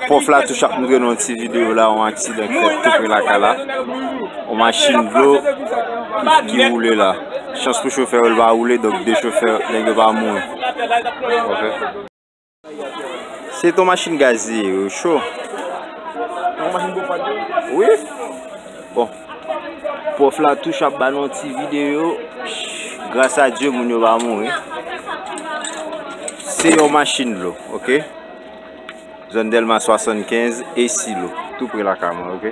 Pwòf la touche ap mouri nan yon ti videyo la, yon aksidan ki fèt tou pre lakay la. Yon machin dlo ki woule la. Chans pou chofè yo, li pa woule, donk 2 chofè nèg yo pa mouri. Se ton machin gaz li ye yo cho. Nan machin pou pat yo? Wi. Bon. Prof la touch ap ba nou ti video. Gras a Dieu moun yo va mouri. Se yon machin lo. Ok. Zon Delma 75 e silo. Tou pre la kaman. Ok.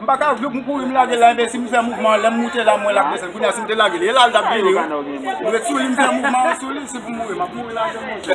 M paka jwe pou m kouri m lage l la enben si m fè mouvman an lè m moute la m wè l ap desann kounye a si m te lage l e la l t ap vini wi m ret sou li m fè mouvman an sou li si pou m mouri m ap mouri lage l monchè.